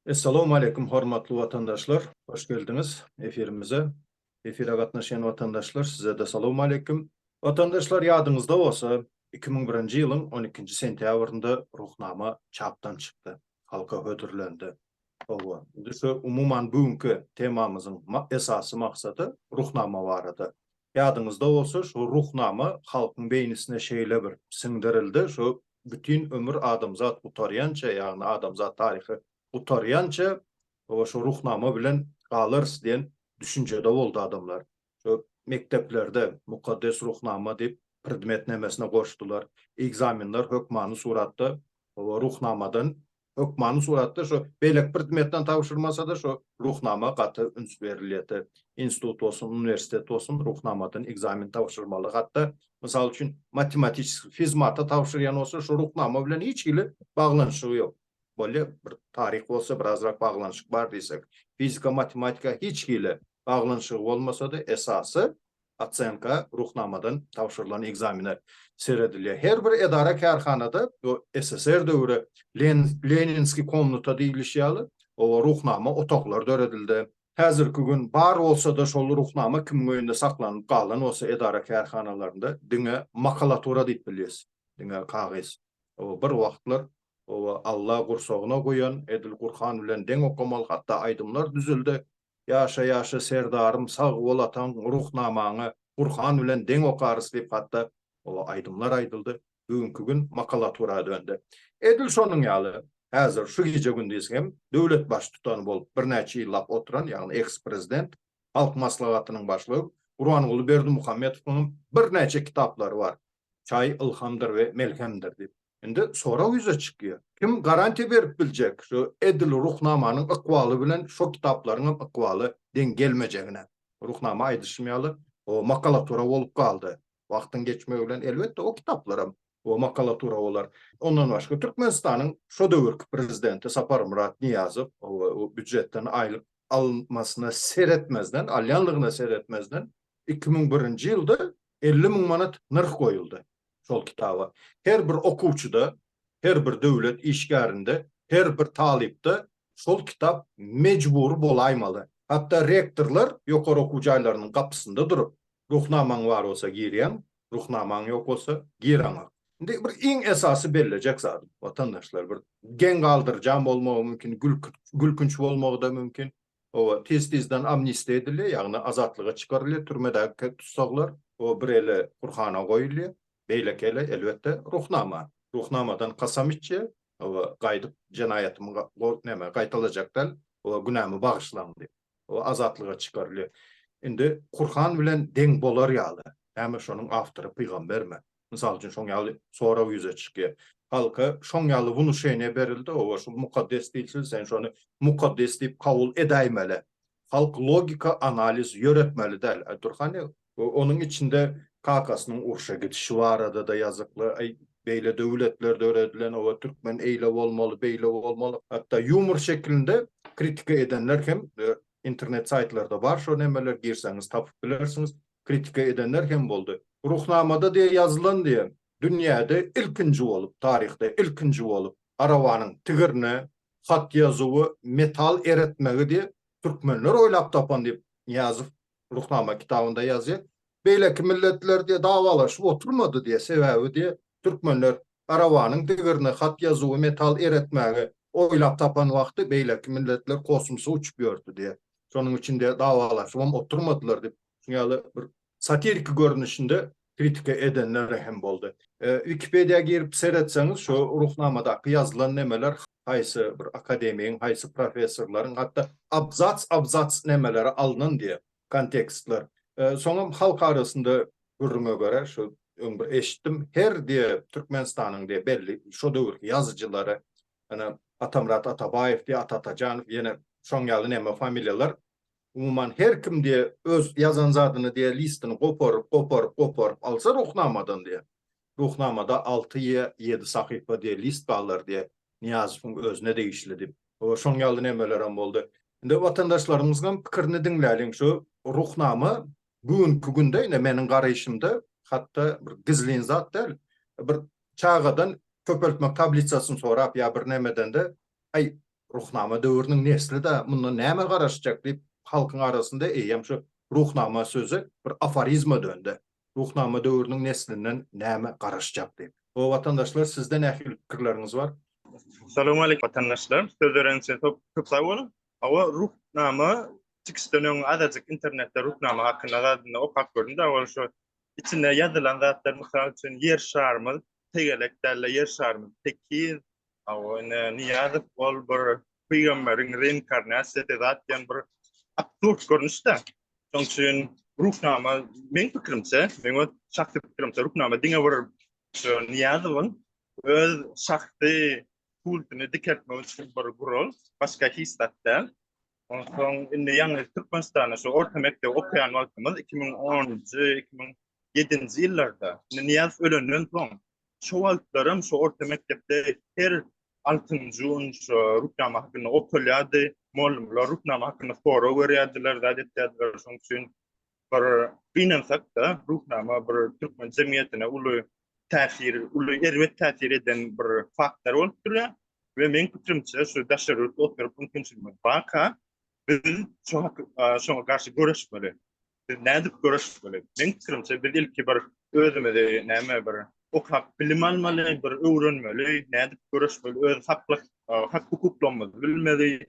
Essalawmaleýkum hormatly watandaşlar, hoş geldiňiz efirimize. Efire gatnaşýan watandaşlar, size-de salawmaleýkim. Watandaşlar, ýadyňyzda bolsa, iki müň birinji ýylyň on ikinji sentýabrynda Ruhnama çapdan çykdy, halka hödürlendi. Hawa, indi şu umuman bu günki temamyzyň esasy maksady Ruhnama barada. Ýadyňyzda bolsa, şu Ruhnama halkyň beýnisine şeýle bir siňdirildi, şu bütin ömür adamzat gutarýança, ýagny adamzat taryhy gutarýança, hawa, şu Ruhnama bilen galarys diýen düşünjede boldy adamlar. Şu mekdeplerde Mukaddes Ruhnama diýip predmetnemesine goşdular. Ekzamenler hökmany suratda o Ruhnamadan, hökmany suratda şu beýleki predmetden tabşyrmasa-da şu Ruhnama gaty üns berilýärdi. Institut bolsun, uniwersitet bolsun Ruhnamadan ekzamen tabşyrmaly. Hatda, mysal üçin, matematiskiý, fizmata tabşyrýan bolsa şu Ruhnama bilen hiç hili baglanyşygy ýok. bolýa, bir taryh bolsa birazrak baglanyşyk bar diýsek. Fizika matematika hiç hili baglanyşygy bolmasa-da esasy osenka Ruhnamadan tabşyrylan ekzamine seredilýär. Her bir edara kärhanada bu SSR döwri Leninskiý komnata diýilişi ýaly oba Ruhnama otaglar döredildi. Häzirki gün bar bolsa-da şol Ruhnama kimiň öýünde saklanyp galan bolsa edara kärhanalarynda diňe makalatura diýip bilýäs. Diňe kagyz. Oba bir wagtlar Oba Alla gursagyna guýan, edil Gurhan bilen deň okamaly hatda aýdymlar düzüldi. Ýaşa ýaşa Serdarym sag bol ataň ruhnamaňy Gurhan bilen deň okarys diýip hatda oba aýdymlar aýdyldy. Bugünki gün makalatura döndi. Edil şonuň ýaly häzir şu gije gündiz hem döwlet baştutany bolup birnäçe ýyllap oturan ýagny eks prezident Halk maslahatynyň başlygy Gurbanguly Berdimuhamedowyň hem birnäçe kitaplary bar. Çaý ylhamdyr we melhemdir diýip. Indi sorag ýüze çykýar. Kim garantiýa berip biljek şu edil Ruhnamanyň ykbaly bilen şo kitaplaryň hem ykbaly deň gelmejegine? Ruhnama aýdyşym ýaly, o makalatura bolup galdy. Wagtyň geçmegi bilen elbetde o kitaplar hem o makalatura bolar. Ondan başga Türkmenistanyň şo döwürki prezidenti Saparmyrat Nyýazow o býujetden aýlyk almasyna seretmezden, alýanlygyna seretmezden iki müň birinji ýylda elli müň manat nyrh goýuldy şol kitaba. Her bir okuwçyda, her bir döwlet işgärinde, her bir talypda şol kitap mejbury bolaýmaly. Hatda rektorlar ýokary okuw jaýlarynyň gapysynda durup, Ruhnamaň bar bolsa girýäň, Ruhnamaň ýok bolsa giraňok. Indi bir iň esasy bellejek zadym, watandaşlar, bir geň galdyrjaň bolmagy mümkin, gülkünç bolmagy-da mümkin. O tiz-tizden amnistiýa edilýär, ýagny azatlyga çykarylýar türmedäki tussaglar. O bir eli Gurhana goýulýar, beýleki eli, elbetde, Ruhnama. Ruhnamadan kasam içýär, Hawa, gaýdyp jenaýatymy näme, gaýtalajak däl, o günämi bagyşlaň diýip. O azatlyga çykarylýar. Indi Gurhan bilen deň bolar ýaly. Näme şonuň awtory pygambermi? Mysal üçin, şoň ýaly sorag ýüze çykýar. Halka şoň ýaly wnuşeniýe berildi, oba şu mukaddes dilçil, sen şony mukaddes diýip kabul edäýmeli. Halk logika analiz ýöretmeli däl. Aý dur hany, onuň içinde kakasynyň urşa gidişi barada-da ýazykly, aý beýle döwletler döredilen, oba türkmen eýle bolmaly, beýle bolmaly. Hatda ýumor şekilinde kritika edenler hem internet saýtlarda bar şo nemeler, girseňiz tapyp bilersiňiz. kritika edenler hem boldy. Ruhnamada diýe ýazylan diýe, dünýäde ilkinji bolup, taryhda ilkinji bolup, arabanyň tigirine hat ýazuwy metal eretmegi diýe, türkmenler oýlap tapan diýip, Nyýazow Ruhnama kitabynda ýazýar. Beýleki milletler diýe dawalaşyp oturmady diýe, sebäbi diýe, türkmenler Arabanyň degerine hat ýazuwy metal eretmäge oýlap tapan wagty beýleki milletler kosmosa uçup ýördi diýýär. Şonuň üçin-de dawalaşybam oturmadylar diýip, şu ýaly bir satiriki görnüşinde kritika edenler hem boldy. Wikipediýa girip seretseňiz, şu Ruhnamadaky ýazylan nemeler haýsy bir akademigiň, haýsy professorlaryň hatda abzats-abzats nemeleri alnan diýýär. Kontekstler. Soňam halk arasynda gürrüňe görä, şu öň bir eşitdim, her diýe Türkmenistanyň diýe belli şo döwürki ýazyjylary, ýöne Atamyrat Atabaýew diýe, Ata Atajanow, ýene şoň ýaly näme familiýalar, umuman her kim diýe öz ýazan zadyny diýe listyny goparyp, goparyp, goparyp alsa Ruhnamadan diýe, Ruhnamada alty ýa ýedi sahypa diýe list barlar diýe Nyýazowyň özüne degişli diýip. Hoo şoň ýaly nemelerem boldy. Indi watandaşlarymyzgam pikirini diňläliň şu Ruhnama bu günki günde ine meniň garaýşymda hatda bir gizlin zat däl bir çagadan köpeltmek tablisasyny sorap ýa bir nemedende aý Ruhnama döwrüniň neslida mundan näme garaşjak diýip halkyň arasynda eýýäm şu Ruhnama sözi bir aforizma döndi. Ruhnama döwrüniň neslinden näme garaşjak diýip. O watandaşlar sizde nähili pikirleriňiz bar. Salowmalik watandaşlar söz beren üçin köp sag boluň. Hawa ruhnama çykyşdan öň azajyk internetde ruhnama hakynda zadynda okap gördüm da ol şu içinde ýazylan zatlar mysal üçin ýer şarymyz tegelek dälde ýer şarymyz tekiz Hawa, ine Niýazow ol bir pygamberiň reinkarnasiýasy zat diýen bir absurd görnüşde. Şonuň üçin Ruhnama meň pikirimçe, meň öz şahsy pikirimçe Ruhnama diňe bir şu Niýazowyň öz şahsy kultuny dikeltmek üçin bir gural, başga hiç zat däl. Onsoň indi ýalňyz Türkmenistanda şu orta mekdebi okaýan wagtymyz iki müň onunjy, iki müň ýedinji ýyllarda, indi Niýazow ölenden soň Şo wagtlaram şo orta mekdepde her altynjy gün şo ruknama hakynda okalýardy. Mugallymlar ruknama hakynda sorag berýärdiler, zat etýärdiler. Şoň üçin bir gynansak-da, ruknama bir türkmen jemgyýetine uly täsir, uly erbet täsir eden bir faktor bolup durýar. We meň pikirimçe, şu daşary ýurtda oturyp mümkinçiligimiz barka, biz şoňa garşy göreşmeli. Biz nädip göreşmeli? Meň pikirimçe, biz ilki bir özümizi näme bir okap bilim almaly, bir öwrenmeli, nädip göreşmeli, öz haklyk, hak hukuklarymyzy bilmeli,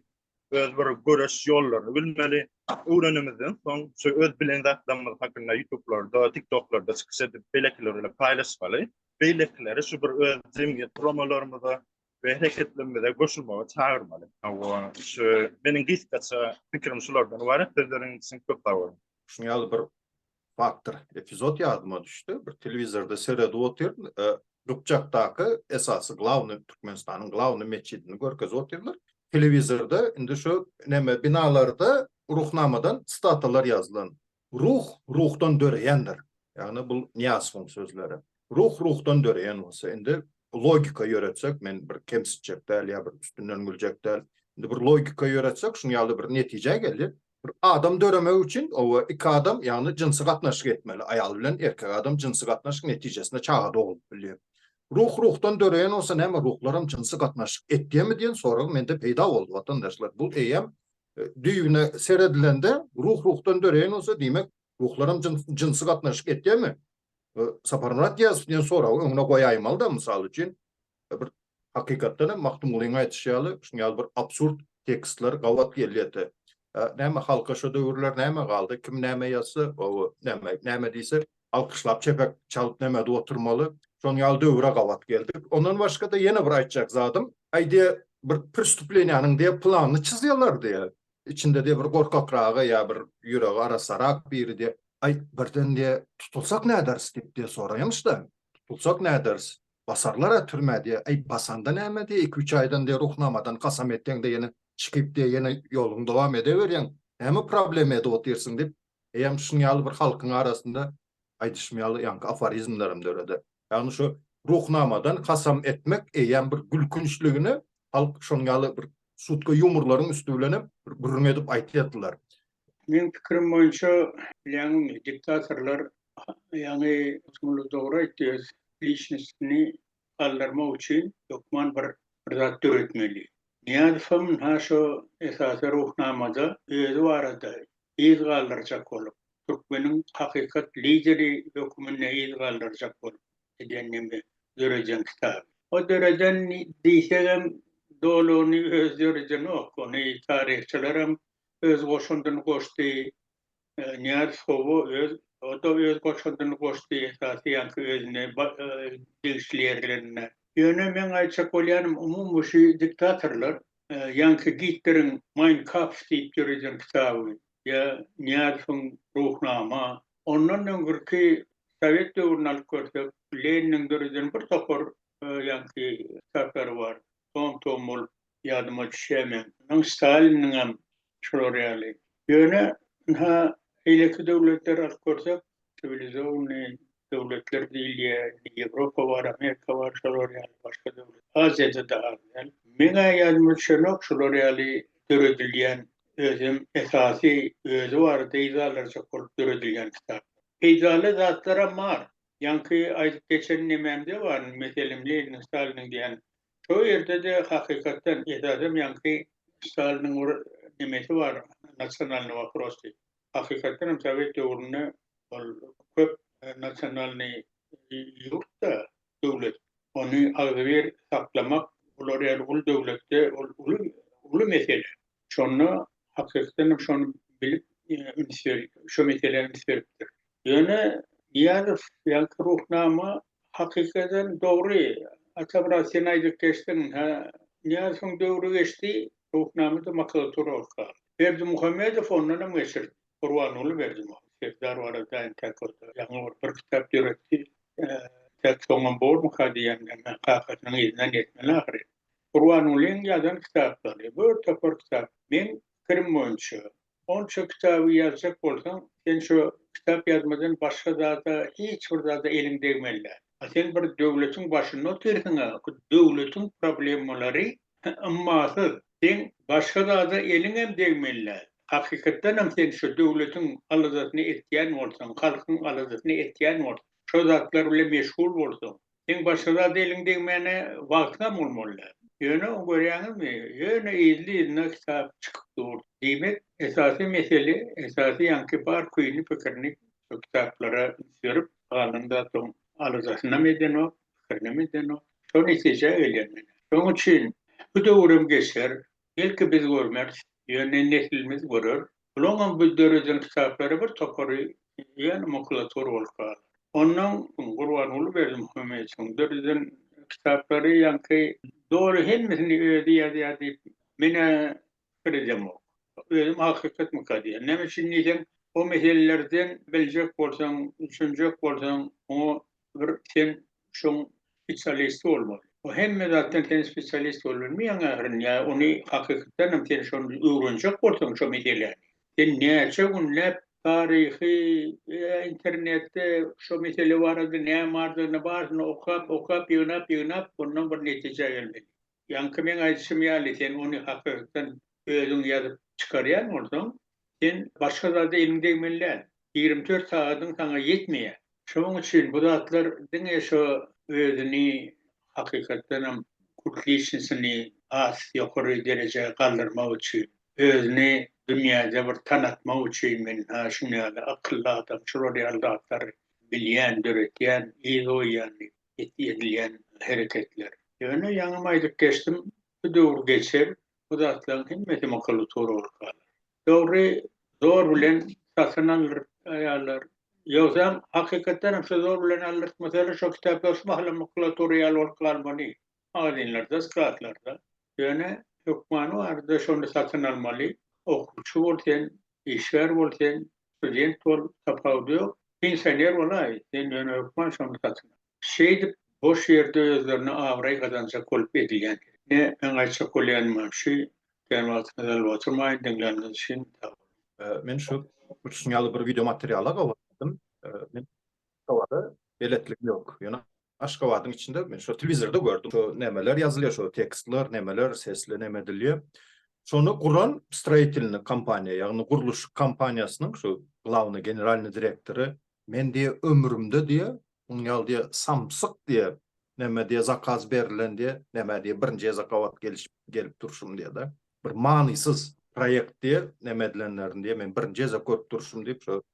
öz bir göreş ýollaryny bilmeli. Öwrenimizden soň şu öz bilen zatlarymyz hakynda YouTube-larda, TikTok-larda çykyş edip, beýlekiler bilen paýlaşmaly. Beýlekileri şu bir öz jemgyýet guramalarymyza, we hereketlerimize goşulmaga çagyrmaly. Hawa, şu meniň gysgaça pikirim şulardan ybarat. Sözleriň üçin köp sag boluň. Şuň ýaly bir faktor, epizod ýadyma düşdi. Bir telewizorda seredip otyryn, Gypjakdaky esasy glawny Türkmenistanyň glawny metjidini görkezip otyrlar. Telewizorda indi şu neme binalarda Ruhnamadan sitatalar ýazylan. Ruh ruhdan döreýändir. Ýagny bul Nyýazowyň sözleri. Ruh ruhdan döreýän bolsa, indi logika ýöretsek, men bir kemsitjek däl ýa bir üstünden güljek däl, indi bir logika ýöretsek, şuň ýaly bir netijä geldi, bir adam döremegi üçin oba iki adam, ýagny jynsy gatnaşyk etmeli, aýal bilen erkek adam jynsy gatnaşyk netijesinde çaga doglup bilýär. Ruh ruhdan döreýän bolsa, näme ruhlaram jynsy gatnaşyk etýärmi diýen sorag mende peýda boldy, watandaşlar. Bul eýýäm Düýbüne seredilende, ruh ruhdan döreýän bolsa, diýmek, ruhlaram jynsy gatnaşyk etýärmi? Saparmyrat Gyýasow diýen soragy öňüne goýaýmaly-da, mysal üçin, bir hakykatdan hem Magtymgulynyň aýdyşy ýaly, şunuň ýaly bir absurd tekstler gabat gelýärdi. Näme halka şo döwürler näme galdy, kim näme ýazsa, o näme näme diýse, alkyşlap çepek çalyp nemedip oturmaly. Şon ýaly döwüre gabat geldik. Ondan başga-da ýene bir aýtjak zadym, aý diýe bir pristuplenýanyň diýe planyny çyzýalar diýe, içinde diýe bir gorkakragy ýa bir ýüregi arasarak biri diýe, aý birden diýe tutulsak näderis diýip diýe soraýmyş-da, tutulsak näderis, basarlar-a türmä diýe, aý basanda näme diýe iki-üç aýdan diýe ruhnamadan kasam etseň-de ýene çykyp diýe ýene ýoluňy dowam edeberýäň, näme problema edip otyrsyň diýip, Eýýäm şunuň ýaly bir halkyň arasynda aýdyşym ýaly ýaňky aforizmlerem döreder. Ýagny şu Ruhnamadan kasam etmek eýýäm bir gülkünçligine halk şonuň ýaly bir şutka ýumorlaryň üsti bilenem bir gürrüň edip aýtýardylar. Meň pikirim boýunça bilýäňizmi diktatorlar ýaňy Magtymguly dogry aýtdy öz liçnostini galdyrmak üçin hökman bir bir zat döretmeli. Nyýazowam ynha şo esasy Ruhnamada özi barada yz galdyrjak bolup, türkmeniň hakykat lideri höküminde yz galdyrjak bolup edýän neme döreden kitaby. O döreden diýsegem dolugyny özi döredenok, ony taryhçylaram öz goşandyny goşdy, Nyýazow Hawa öz o-da öz goşandyny goşdy esasy ýaňky özüne degişli ýerlerinde. Ýöne meň aýtjak bolýanym umumy şu diktatorlar ýaňky Gitleriň Mein Kampf diýip döreden kitaby ýa Nyýazowyň Ruhnama ondan öňürki sowet döwrüni alyp görsek Leniniň döreden bir topar ýaňky kitaplary bar. tom-tom bolup ýadyma düşýärmi? Onuň Staliniňem şular ýaly. Ýöne, ynha, beýleki döwletleri alyp görseň, siwilizowanyý döwletler diýilýär, indi Ýewropa bar, Amerika bar, şolar ýaly başga döwlet. Aziýada-da az däl. Meň-ä ýadyma düşenok şular ýaly döredilýän, özem esasy özi bar, peýdalarjak bolup döredilýän kitaplar. Peýdaly zatlaram bar. Ýaňky aýdyp geçen nememde bar, meselem, Leniniň, Staliniň diýen. Şo ýerde-de, hakykatdan, esasam ýaňky Staliniň bir nemesi bar, nasionalnyý woprosy. Hakykatdan hem sowet döwründe ol köp nasionalnyý ýurt-da, döwlet. Ony agzybir saklamak, bular ýaly uly döwletde ol uly, uly mesele. Şonda hakykdan hem şony bilip üns berip, şu meselä üns beripdir. Ýöne Nyýazow ýaly Ruhnama hakykatdan dogry, Atamyrat sen aýdyp geçdiň, hä, Nyýazowyň döwri geçdi, Ruhnama-da makulatura bolup galdy. Berdimuhamedow ondan hem geçirdi. Gurbanguly Berdimuhamedow Serdar barada entäk bolsa ýaňy bir bir kitap döretdi. Entäk soňam bormyka diýen, kakasynyň yzyndan ýetmeli ahyry. Gurbangulyň ýazan kitaplary, bir topar kitap. Meň pikirim boýunça, onça kitaby ýazjak bolsaň, sen şo kitap ýazmadan başga zada, hiç bir zada eliň degmeli däl. A sen bir döwletiň başynda otyrsyň-a, bu döwletiň problemalary ymmasyz. Seň başga zada eliňem degmeli däl. Hakykatdanam sen şo döwletiň aladasyny etýän bolsaň, halkyň aladasyny etýän bolsaň, şo zatlar bilen meşgul bolsaň, Seň başga zada eliň degmäne wagtyňam bolmaly däl. Ýöne görýäňizmi, ýöne yzly-yzyna kitap çykyp dur. Diýmek, esasy mesele, esasy ýaňky bar küýüni-pikirini şo kitaplara üns berip, galan zadyň aladasynam edenok, pikirinam edenok. Şo netijä gelýän menä. Şonuň üçin bu döwürem geçer, belki biz görmeris, ýöne neslimiz görer, Bularyňam bu döreden kitaplary bir topary ýene makulatura bolup galar. Onnoň Gurbanguly Berdimuhamedowyň döreden kitaplary ýaňky doly hemmesini özi ýazýar diýip menä pikir edemok. Özüm hakykatmyka diýýän. Näme üçin diýseň, o meselelerden biljek bolsaň, düşünjek bolsaň, oňa bir sen şoň spesialisti bolmaly. Bu hemme zatdan sen spesialist bolup bilmeýäň ahyryny, ýa ony hakykatdan hem sen şony öwrenjek bolsaň şo meseläni. Sen näçe günläp taryhy, internetde şo mesele barada näme bardygyny barysyny okap, okap, ýygnap, ýygnap ondan bir netijä gelmeli. Ýaňky meň aýdyşym ýaly sen ony hakykatdan özüň ýazyp çykarýan bolsaň, sen başga zada eliň degmeli däl. Ýigrimi dört sagadyň saňa ýetmeýär. Şonuň üçin bu zatlar diňe şo özüni hakykatdanam kult liçnisyny has ýokary derejä galdyrmak üçin, özüni dünýäde bir tanatmak üçin men ha şuny ýaly akylly adam şular ýaly zatlary bilýän, döretýän, yz goýýan diýip. edilýän hereketler. Ýöne ýaňam aýdyp geçdim, bu döwür geçer, bu zatlaryň hemmesi makulatura bolup galar. Dogry, zor bilen satyn alýarlar. Ýogsam, hakykatdan hem şo zor bilen aldyrtmasalar, şo kitaplar şu mahalam makulatura ýaly bolup galmaly, magazinlerde, skladlarda. Ýöne hökmany barada şony satyn almaly, okuwçy bol sen, işgär bol sen, Student bol, tapawudy ýok. Pensioner bolaý, sen ýöne hökman şony satyn al. Şeýdip, boş ýerde özlerine abraý gazanjak bolup edilýän ýeri. Ine, meň aýtjak bolýanymam şu. Gitýän wagtyňyzy alyp oturmaýyn, diňläniňiz üçin sag boluň. Men şu uçuşyň ýaly bir wideomateriala gowulanmadym. Meniň towara beletligim ýok. Ýöne Aşgabadyň içinde men şo telewizorda gördüm. Şo nemeler ýazylýar, şo tekstler, nemeler, sesli neme edilýär. Şony guran stроительный kompaniýa, ýagny gurluşyk kompaniýasynyň şu glawnyý generalnyý direktory men diýe ömrümde diýe munuň ýaly diýe samsyk diýe neme diýe zakaz berilen diýe neme diýe birinji ezakobat gelişip gelip durşum diýe-de bir manysyz proýekt diýe neme edilenlerini diýe men birinji gezek görüp durşum diýip şo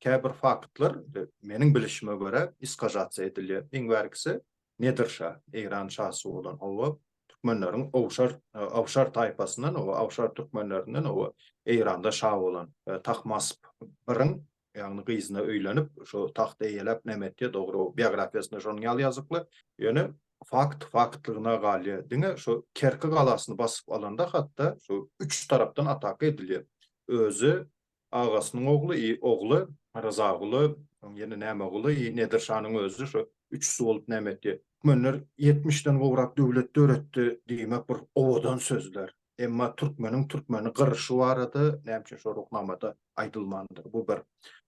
Käbir faktlar, meniň bilişime görä, iskazasiýa edilýär. Iň bärkisi Nedir şa, Eýran şasy bolan, hawa, türkmenleriň awşar, awşar taýpasyndan, hawa, awşar türkmenlerinden, hawa, Eýranda şa bolan Tahmasp I-iň, ýagny gyzyna öýlenip, şo tagty eýeläp näme etýär, dogry, o biografiýasynda şonuň ýaly ýazykly. Ýöne fakt faktlygyna galýar. Diňe şu Kerki galasyny basyp alanda hatda şu üç tarapdan ataka edilýär. Özi Agasynyň ogly I ogly Ryzaguly, soň ýene Nämeguly I Nedir şanyň özi şu üçüsi bolup näme etdi? Türkmenler ýetmişden gowrak döwlet döretdi diýmek bir owadan sözler. Emma türkmeniň türkmeni gyryşy barada näme üçin şo Ruhnamada aýdylmandyr? Bu bir.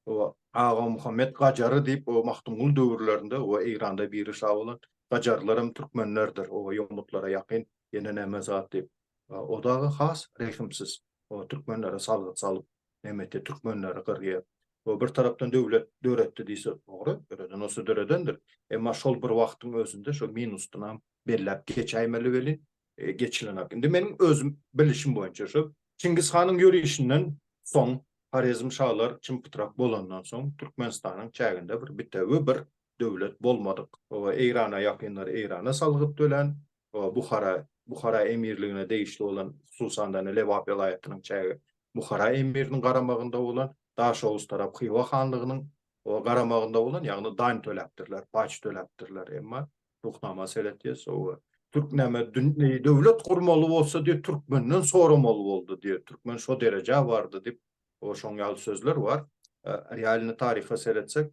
Oba Agamuhammet Gajary diýip o Magtymguly döwürlerinde oba Eýranda biri şa bolan Gajarlaram türkmenlerdir. Oba ýomutlara ýakyn ýene näme zat diýip. O dagy has rehimsiz. O türkmenlere salgyt salyp, nebiti türkmenleri gyrýar. O bir tarapdan döwlet döretdi diýse dogry, döreden bolsa döredendir. Emma şol bir wagtyň özünde şo minusdanam belläp geçäýmeli welin, geçilenak. Indi meniň özüm bilişim boýunça şo Çingiz hanyň ýörişinden soň, Horezm şalar çym-pytrak bolandan soň, Türkmenistanyň çäginde bir bitewi bir döwlet bolmadyk. Eýrana ýakynlary Eýrana salgyt tölän, Buhara, Buhara emirligine degişli bolan, hususan-da, Lebap welaýatynyň çägi Buhara emiriniň garamagynda bolan, Daşoguz tarap Hywa hanlygynyň garamagynda bolan, ýagny daň töläpdirler, paç töläpdirler. Emma Ruhnama seret diýýär, sowa. Türk näme, döwlet gurmaly bolsa diýip, türkmenden soramaly boldy diýýär. Türkmen şo derejä bardy diýip, şoň ýaly sözler bar. Realny taryha seretsek,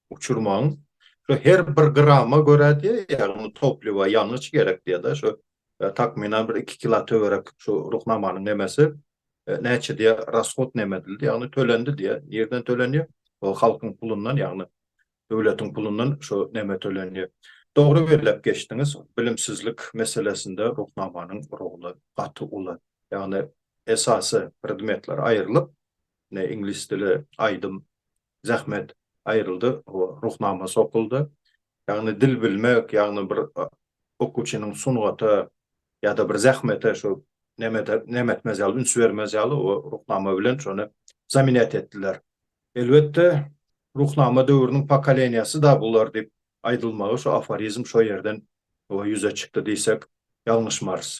uçurmaň şu her bir grama görä diýe ýagny topliwa ýangyç gerek diýe da şu takmynan bir iki kila töwerek şu ruhnamanyň nemesi näçe diýe rashod neme edildi ýagny tölendi diýe nirden tölenýe o halkyň pulundan ýagny döwletiň pulundan şu neme tölenýe dogry belläp geçdiňiz bilimsizlik meselesinde ruhnamanyň roly gaty uly ýagny esasy predmetler aýrylyp ne iňlis dili aýdym zähmet aýryldy, ruhnama sokuldy. Ýagny dil bilmek, ýagny bir okuwçynyň sungata ýa-da bir zähmete şu näme etmez ýaly, üns bermez ýaly o ruhnama bilen şony zaminýat etdiler. Elbetde, ruhnama döwrüniň pokoleniýasy-da bular diýip aýdylmagy şu aforizm şo ýerden ýüze çykdy diýsek ýalňyşmarys.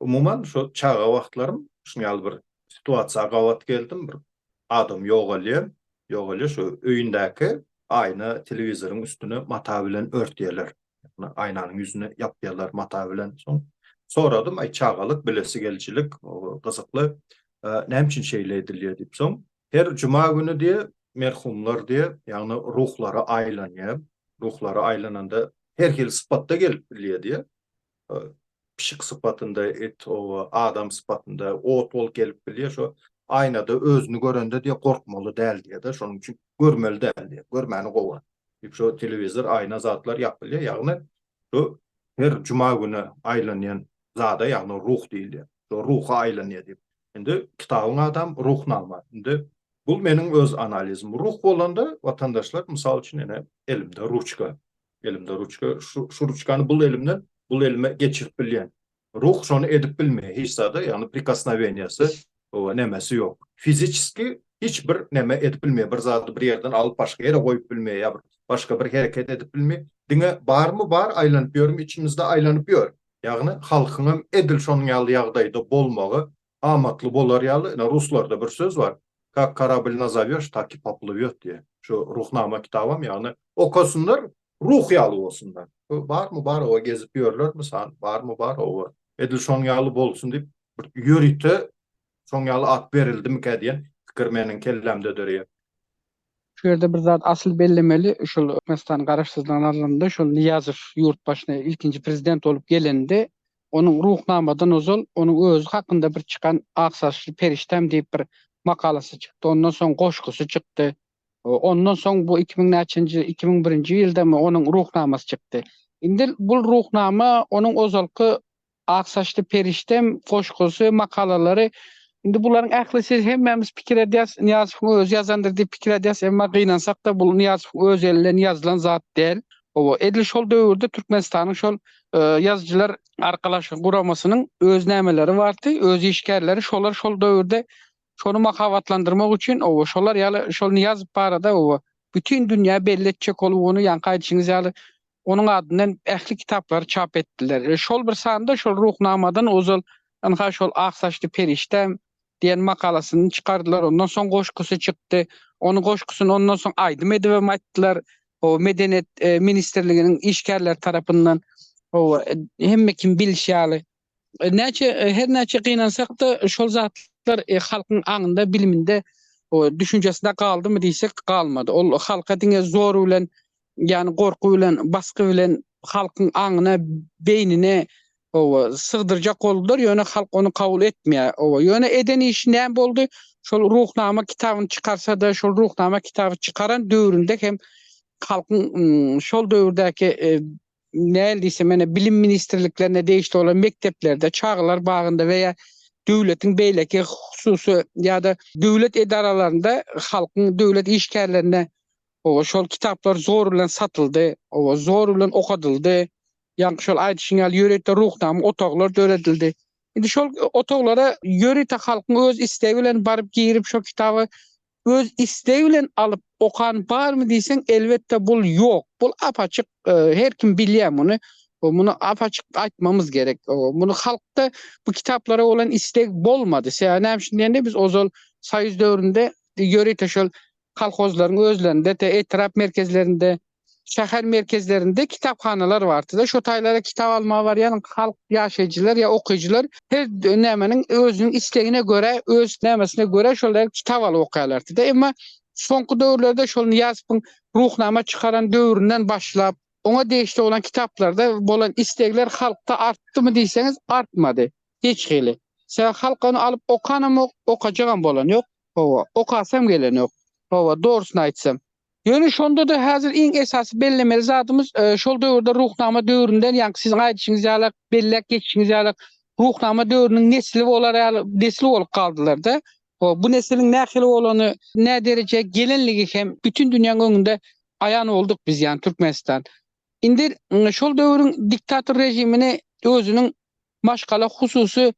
Umuman, şo çaga wagtlarym şunuň ýaly bir situasiýa gabat geldim. Bir adam ýogalýar, ýogalýar, şo öýündäki aýna telewizoryň üstüne mata bilen örtýärler. Ýagny aýnanyň ýüzüni ýapýarlar mata bilen. Soň soradym, aý çagalyk, bilesi gelijilik, gyzykly, näme üçin şeýle edilýär diýip. Soň her juma güni diýe, merhumlar diýe, ýagny ruhlara aýlanýar. Ruhlara aýlananda her hili sypatda gelip bilýär diýe. pişik sypatynda, it, oba, adam sypatynda, ot bolup gelip bilýär, şo aýnada özüni görende diýýär, gorkmaly däl diýýär-de, şonuň üçin görmeli däl diýýär, görmäni gowy. Diýip, şo telewizor, aýna zatlar ýap bilýär, ýagny bu her juma güni aýlanýan zada, ýagny ruh diýilýär, şo ruha aýlanýar diýip. Indi kitabyň ady hem Ruhnama. Indi bu meniň öz analizim. Ruh bolanda, watandaşlar, mysal üçin, ine, elimde ruçka. Elimde ruçka, şu, şu ruçkany bul elimden, bul elime geçirip bilýän. Ruh şony edip bilmeýär hiç zada, ýagny prikosnoweniýasy, owa nemesi ýok. Fiziçeski hiç bir neme edip bilmeýär, bir zady bir ýerden alyp başga ýere goýup bilmeýär, ýa bir başga bir hereket edip bilmeýär. Diňe barmy bar, aýlanyp ýörmi içimizde aýlanyp ýör. Ýagny halkyňam edil şonuň ýaly ýagdaýda bolmagy Amatly bolar ýaly, ine, ruslarda bir söz bar, Kak karablý nazawýoş, tak i poplywýot diýýär. Şu Ruhnama kitabam, ýagny, okasynlar, ruh ýaly bolsunlar. Bu barmy bar oba gezip ýörler, mysal, barmy bar oba. Edil şoň ýaly bolsun diýip, bir ýörite şoň ýaly at berildimikä diýen pikir meniň kellämde döreýär. Şu ýerde bir zat asyl bellemeli, şol Türkmenistanyň Garaşsyzlygyny alanda, şol Nyýazow ýurt başyna ilkinji prezident bolup gelende, onuň Ruhnamadan ozal onuň özi hakynda bir çykan Ak saçly perişdäm diýip bir makalasy çykdy, ondan soň goşgusy çykdy. Ondan soň bu iki müň näçenji, iki müň birinji ýyldamy onuň Ruhnamasy çykdy. Indi bu Ruhnama onuň ozalky Ak saçly perişdem goşgusy, makalalary. Indi bularyň ählisi hemmämiz pikir edýäs, Nyýazowyň özi ýazandyr diýip pikir edýäs, emma gynansak-da bul Nyýazowyň öz elinden ýazylan zat däl. Hawa, edil şol döwürde Türkmenistanyň şol Ýazyjylar arkalaşygy guramasynyň öz nämeleri bardy, öz işgärleri, şolar şol döwürde şony mahabatlandyrmak üçin, hawa, şolar ýaly şol Nyýazow barada, hawa, bütin dünýä belli etjek bolup ony, ýaňky aýdyşyňyz ýaly, onuň adyndan ähli kitaplary çap etdiler. Şol bir sanda şol Ruhnamadan ozal ynha şol Ak saçly perişde diýen makalasyny çykardylar. Ondan soň goşgusy çykdy. Onuň goşgusyny ondan soň aýdym edibem aýtdylar. Hawa, Medeniýet ministrliginiň işgärleri tarapyndan. Hawa, hemme kim bilişi ýaly, Näçe her näçe gynansak-da şol zatlar halkyň aňynda, biliminde, düşünjesinde galdymy diýsek galmady. Ol halka diňe zor bilen ýagny gorky bilen, basgy bilen halkyň aňyna, beýnine oba sygdyrjak boldular, ýöne halk ony kabul etmeýär. Oba ýöne eden işi näme boldy? Şol Ruhnama kitabyny çykarsa-da, şol Ruhnama kitaby çykaran döwründe hem halkyň şol döwürdäki näl diýsem, ýöne bilim ministrliklerine degişli bolan mekdeplerde, çagalar bagynda we-ýa döwletiň beýleki hususy ýa-da döwlet edaralarynda halkyň döwlet işgärlerine oba şol kitaplar zor bilen satyldy, oba zor bilen okadyldy. Ýaňky şol aýdyşyň ýaly ýörite ruhnama otaglar döredildi. Indi şol otaglara ýörite halkyň öz islegi bilen baryp girip şo kitaby öz istegi bilen alyp okan barmy diýseň elbetde bul ýok bul apaçyk her kim bilýä muny muny apaçyk aýtmamyz gerek muny halkda bu kitaplara bolan isteg bolmady sebäbi näme üçin diýende biz ozal soýuz döwründe ýörite şol kolhozlaryň özlerinde etrap merkezlerinde şäher merkezlerinde kitaphanalar bartyda şo taýlara kitap almaga barýan halk ýaşaýjylar ýa okyjylar her nämeniň özüniň islegine görä öz nämesine görä şol taýar kitap alyp okaýarlartyda emma soňky döwürlerde şol Nyýazowyň Ruhnama çykaran döwründen başlap oňa degişli bolan kitaplarda bolan islegler halkda artdymy diýseňiz artmady hiç hili sebäbi halk ony alyp okanamok okajagam bolanýok howa okasam gelenok howa dogrusyny aýtsam. Ýöne şonda-da häzir iň esasy bellemeli zadymyz, şol döwürde Ruhnama döwründen, ýaňky siziň aýdyşyňyz ýaly, belläp geçişiňiz ýaly, Ruhnama döwrüniň nesli bolar ýaly nesil bolup galdylar-da. Bu nesiliň nähili bolany, näderejä gelenligi hem bütin dünýäň öňünde aýan bolduk biz, ýagny Türkmenistan. Indi şol döwrüň diktator režimini özüniň maşgala hususy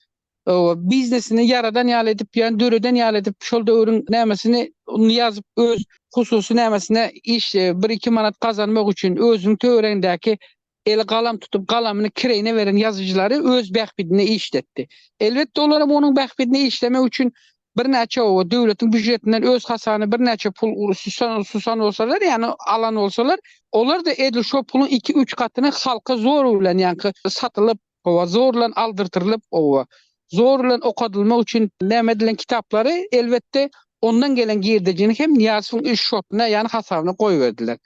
Hawa, biznesini ýaradan ýaly edip, ýagny döreden ýaly edip, şol döwrüň nämesini ýazyp, öz hususy nämesine iş, bir-iki manat gazanmak üçin özüniň töweregindäki eli galam tutup, galamyny kireýine beren ýazyjylary öz bähbidine işletdi. Elbetde, olar hem onuň bähbidine işlemek üçin birnäçe, hawa, döwletiň býujetinden öz hasany birnäçe pul susan bolsalar, ýagny alan bolsalar, olar-da edil şo puluň iki-üç gatyny halka zorug bilen, ýagny satylyp, Oba zor bilen aldyrtyrylyp, oba zor bilen okadylmak üçin näme edilen kitaplary, elbetde, ondan gelen girdejini hem Nyýazowyň üç şotuna, ýagny hasabyna goýberdiler.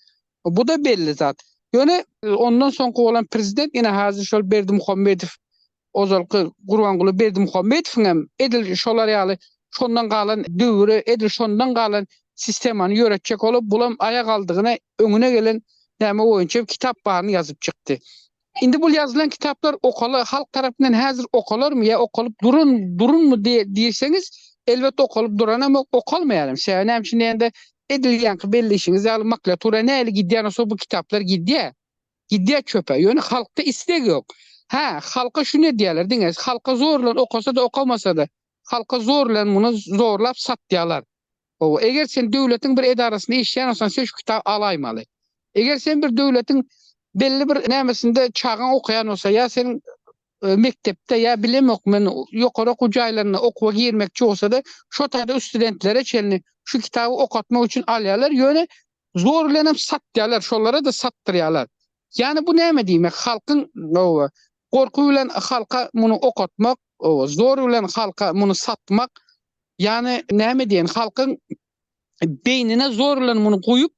Bu-da belli zat. Ýöne ondan soňky bolan prezident ine häzir şol Berdimuhamedow, ozalky Gurbanguly Berdimuhamedowyň hem edil şolar ýaly şondan galan döwri, edil şondan galan sistemany ýöretjek bolup, bulam aýagaldygyna öňüne gelen näme boýunça kitap baryny ýazyp çykdy. Indi bul ýazylan kitaplar okala halk tarapyndan häzir okalarmy ýa okalyp duran durunmy diýseňiz, elbet okalyp duranamok, okalmaýaram. Sebäbi näme üçin diýende, edil ýaňky belleýşiňiz ýaly maklatura nähili gidýän bolsa bu kitaplar gidýär. Gidýär çöpe. Ýöne halkda isleg ýok. Hä, halka şuny edýärler diňe, halka zor bilen okasa-da, okamasa-da, halka zor bilen muny zorlap satýarlar. Hawa, eger sen döwletiň bir edarasynda işleýän bolsaň, sen şu kitaby alaýmaly. Eger sen bir döwletiň belli bir nämesinde çagaň okaýan bolsa, ýa seniň mekdepde ýa bilemok men ýokary okuw jaýlarynda okuwa girmekçi bolsada, şo taýda studentlere çenli şu kitaby okatmak üçin alýarlar, ýöne zor bilen hem satýarlar, şolara-da satdyrýarlar. Ýani bu näme diýmek, halkyň hawa, gorky bilen halka muny okatmak, hawa, zor bilen halka muny satmak, Ýani näme diýen halkyň beýnine zorlan muny guýup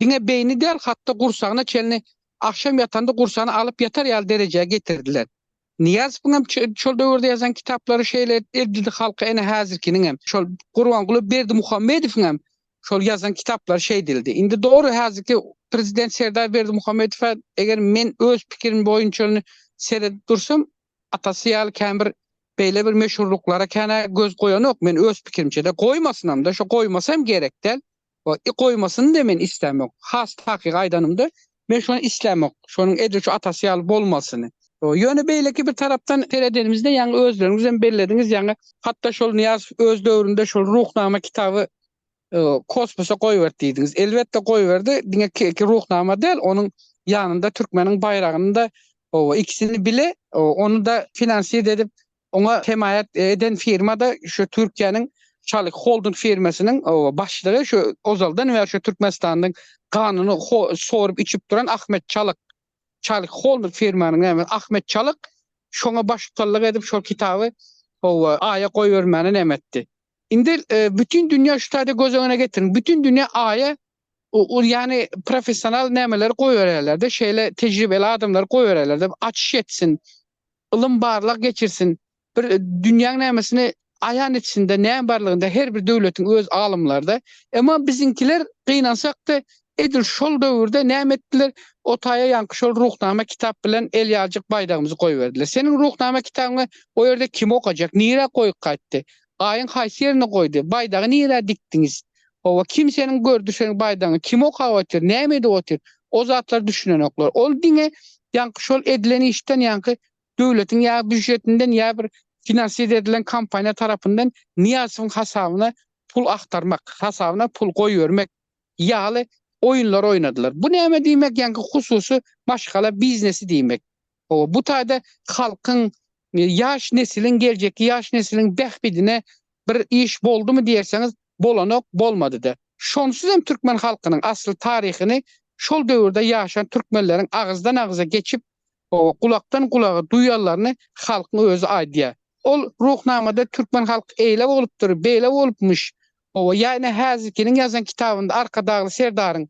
diňe beýni däl hatda gursagyna çenli agşam ýatanda gursagyny alyp ýatar ýaly derejä getirdiler. Nyýazowyň hem şol döwürde ýazan kitaplary şeýle edildi halky ene häzirkiniň hem şol Gurbanguly Berdimuhamedowyň hem şol ýazan kitaplary şeýdildi. Indi dogry häzirki prezident Serdar Berdimuhamedowa eger men öz pikirim boýunçalyny seredip dursam Atasy ýaly kän bir beýle bir meşhurlyklara kän-ä göz goýanok men öz pikirimçe-de. Goýmasynam-da, şo goýmasa hem gerek däl. I goýmasyny-da men islämok. Has takygy aýdanymda, men şony islämok. Şonuň edil şu atasy ýaly bolmasyny. Ýöne beýleki bir tarapdan seredenimizde, ýaňy özleriňizem bellediňiz, ýaňy hatda şol Nyýazow öz döwründe şol Ruhnama kitaby kosmosa goýberdi diýdiňiz. Elbetde goýberdi, diňe ki Ruhnama däl, onuň ýanynda türkmeniň baýragyny-da, oba, ikisini bile, ony-da finansir edip, oňa hemaýat eden firma-da şu Türkiýäniň Şalik Holding firmasynyň, oba, başlygy şu ozaldan bäri şu Türkmenistanyň ganyny sorup içip duran Ahmet Çalyk. Şalik Holding firmanyň näme, Ahmet Çalyk şoňa baştutanlyk edip şol kitaby, oba, Aýa goýbermäni näme etdi? Indi bütin dünýä şu taýda göz öňüne getiriň. Bütin dünýä Aýa ol ýany professional nämeleri goýbererlerde, şeýle tejribeli adamlary goýbererlerde, açyş etsin, ylym barlag geçirsin, bir dünýäň nämesini aýan etsinde, näme barlygynda her bir döwletiň öz alymlarda. Emma biziňkiler gynansak-da, Edil şol döwürde näme etdiler? O taýa ýaňky şol Ruhnama kitap bilen el ýaljyk baýdagymyzy goýberdiler. Seniň Ruhnama kitabyňy o ýerde kim okajak? Nirä goýup gaýtdy? Gaýyň haýsy ýerine goýdy? Baýdagy nirä dikdiňiz? Hawa, kim seniň gördi seniň baýdagyňy? Kim okap otyr? Näme edip otyr? O zatlara düşünenoklar. Ol diňe ýaňky şol edilen işden ýaňky döwletiň ýa býujetinden ýa bir finansiýa edilen kompaniýa tarapyndan Nyýazowyň hasabyna pul agtarmak, hasabyna pul goýbermek ýaly oýunlar oýnadylar. Bu näme diýmek, ýaňky hususy maşgala biznesi diýmek. Hawa, bu taýda halkyň, ýaş nesiliň, geljekki ýaş nesiliň bähbidine bir iş boldumy diýerseňiz, bolanok, bolmady-da. Şonsuz hem türkmen halkynyň asly taryhyny şol döwürde ýaşan türkmenleriň agyzdan agza geçip, hawa, gulakdan gulaga duýanlaryny halkyň özi aýdýar. Ol Ruhnamada türkmen halky eýle bolupdyr, beýle bolupmyş, Hawa, ýa ine häzirkiniň ýazan kitabynda Arkadagly serdaryň,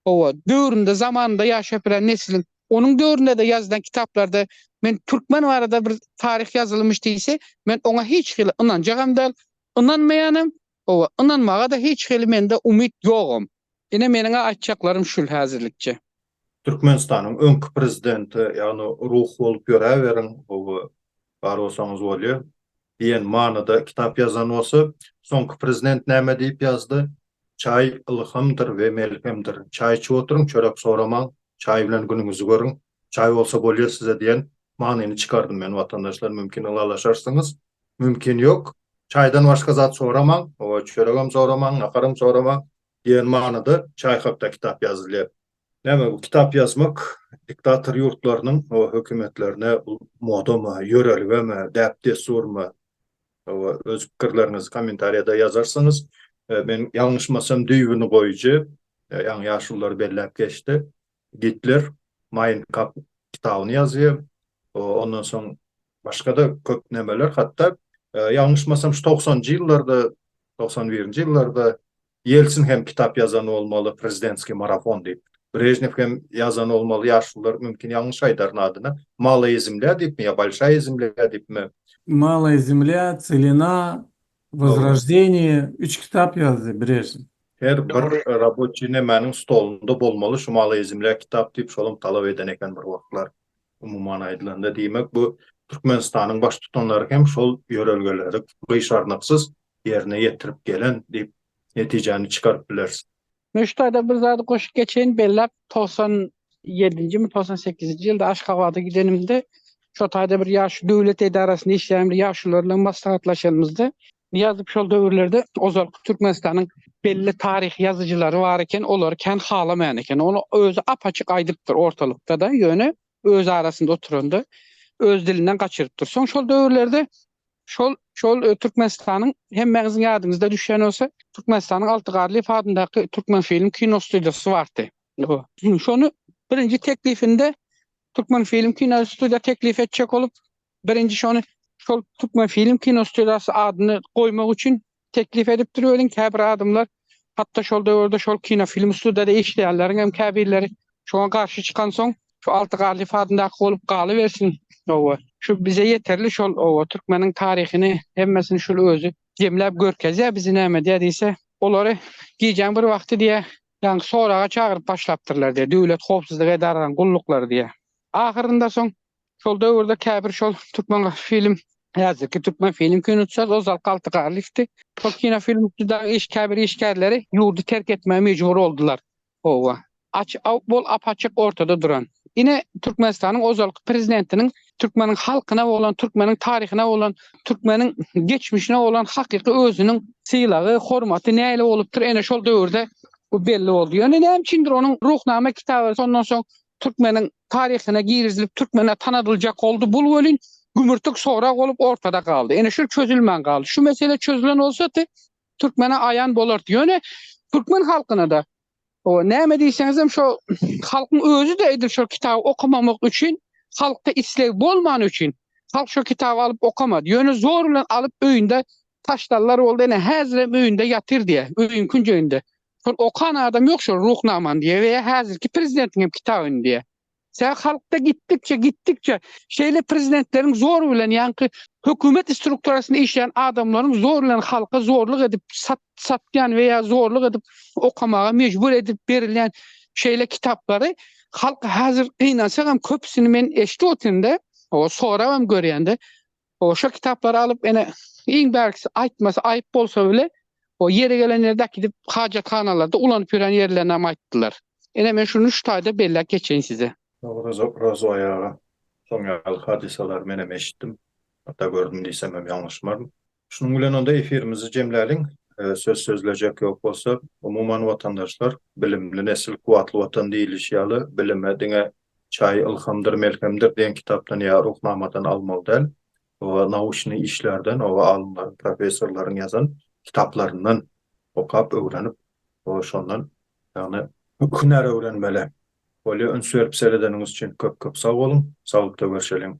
hawa, döwründe, zamanynda ýaşap bilen nesliň, onuň döwründe-de ýazylan kitaplarda men türkmen barada bir taryh ýazylmyş diýse, men oňa hiç hili ynanjagam däl, ynanmaýanam, hawa, ynanmaga-da hiç hili mende umyt ýogam. Ine meniň-ä aýtjaklarym şul häzirlikçe. Türkmenistanyň öňki prezidenti, ýagny ruh bolup ýöräberiň, gowy bar bolsaňyz bolýa diýen manyda kitap ýazan bolsa, soňky prezident näme diýip ýazdy, Çaý ylhamdyr we melhemdir. Çaý içip oturyň, çörek soramaň, çaý bilen günüňizi görüň, çaý bolsa bolýar size diýen manyny çykardym men watandaşlar, mümkin ylalaşarsyňyz, mümkin ýok. Çaýdan başga zat soramaň, oba çöregem soramaň, naharam soramaň, Diýen manyda Çaýkowda kitap ýazylýar. Näme bu kitap ýazmak diktator ýurtlarynyň hökümetlerine modamy, ýörelgemi, däp-dessurmy? Hawa, öz pikirleriňizi kommentariýada ýazarsyňyz. Men ýalňyşmasam düýbüni goýujy, ýaňy ýaşululary belläp geçdi. Gitler Mein Kampf kitabyny ýazýar. Ondan soň başga-da köp nämeler, hatda ýalňyşmasam şu togsanjy ýyllarda, togsan birinji ýyllarda Ýelsin hem kitap ýazan bolmaly, Prezidentskiý marafon diýip. Brežnew hem ýazan bolmaly, ýaşlylar mümkin ýalňyş aýdaryn adyny, Malaya zemlýa diýipmi ýa Bolşaýa zemlýa diýipmi? Malaya zemlýa, Tselena, Wozroždeniýe üç kitap ýazdy birersi. Her bir raboçi nemäniň stolunda bolmaly şu malaýzmlä kitap diýip şolam talap eden eken bir wagtlar umuman aýdylanda diýmek bu Türkmenistanyň baştutanlary hem şol ýörelgeleri gyşarnyksyz ýerine ýetirip gelen diýip netijäni çykaryp bilersiň. Men şu taýda bir zady goşup geçeýin, belläp togsan ýedinjimi, togsan sekizinji ýylda Aşgabada gidenimde, şo taýda bir ýaş döwlet edarasynda işleýän bir ýaşulylar bilen maslahatlaşanymyzda, Nyýazow şol döwürlerde ozalky Türkmenistanyň belli taryh ýazyjylary bar eken, olary kän halamaýan eken. Ony özi ap-açyk aýdypdyr ortalykda-da, ýöne öz arasynda oturanda öz dilinden gaçyryp dur. Soň şol döwürlerde şol şol e, Türkmenistanyň hemmäňiziň ýadyňyzda düşen bolsa Türkmenistanyň Alty Garlyýew adyndaky Türkmen film kino studiýasy bardy. Şony birinji teklifinde Türkmen film kino studiýa teklif etjek bolup, birinji şony şol Türkmen film kino studiýasy adyny goýmak üçin Teklip edipdir welin käbir adamlar hatda şol döwürde şol kinofilm studiýada işleýänleriň hem käbirleri şoňa garşy çykansoň şu Alty Garlyýew adyndaky bolup galybersin oba şu bize ýeterli şol oba türkmeniň taryhyny hemmesini şul özi jemläp görkezýär bizi näme edýär diýse olary gijäň bir wagty diýýär ýaňky soraga çagyryp başlapdyrlar diýýär döwlet howpsuzlyk edaralaryň gulluklary diýýär ahyrynda soň Şol döwürde käbir şol türkmen film häzirki türkmen film kinoçylar o zal galty galyşdy. Şol kino film dagy iş käbir işgärleri ýurdy terk etmäge mejbur boldular. Owa. Aç bol apaçyk ortada duran. Ine Türkmenistanyň ozalky prezidentiniň türkmeniň halkyna bolan, türkmeniň taryhyna bolan, türkmeniň geçmişine bolan hakyky özüniň sylagy, hormaty näle bolupdyr, ene şol döwürde bu belli boldy. Ýöne näme üçindir onuň Ruhnama kitaby şondan soň Türkmeniň taryhyna girizilip Türkmene tanadyljak oldy. Bul welin gümürtik sorag bolup ortada galdy. Ene şul çözülmän galdy. Şu mesele çözülen bolsady Türkmene aýan bolardy. Ýöne Türkmen halkynada o näme diýseňizem şo halkyň özüde edil şo kitaby okamamak üçin halkda isleg bolmany üçin halk şo kitaby alyp okamady. Ýöne zor bilen alyp öýünde taşlarlar boldy. Ene häzirem öýünde ýatyr diýä. Öýün künjeginde. Şol okan adam ýok şol Ruhnamany diýýär we häzirki prezidentiň hem kitabyny diýýär. Sebäbi halkda gitdikçe, gitdikçe şeýle prezidentleriň zor bilen ýaňky hökümet strukturasynda işleýän adamlaryň zor bilen halka zorluk edip sat, satýan we ýa zorluk edip okamaga mejbur edip berilýän şeýle kitaplary halk häzir gynansagam köpüsini men eşidip otyndä, sorabam görýändä O şo kitaplary alyp ene iň bärkisi aýtmasy aýyp bolsa bile o ýeri gelen ýerde äkidip hajathanalarda ulanyp ýören ýerlerini hem aýtdylar. Ene men şuny şu taýda belläp geçeýin size. Rozoý aga, şoň ýaly hadysalary men hem eşitdim, hatda gördüm diýsem hem ýalňyşmaryn. Şunuň bilen onda efirimizi jemläliň. Söz sözlejek ýok bolsa, umuman watandaşlar, bilimli nesil kuwwatly watan diýilişi ýaly, bilime diňe Çaýy ylhamdyr, melhemdir diýen kitapdan ýa Ruhnamadan almaly däl. Oba nauşnyý işlerden, oba alymlaryň, professorlaryň ýazan kitaplaryndan okap, öwrenip, oba şondan, ýagny, hünär öwrenmeli. Bolýa, üns berip seredeniňiz üçin köp-köp sag boluň. Saglykda görşeliň.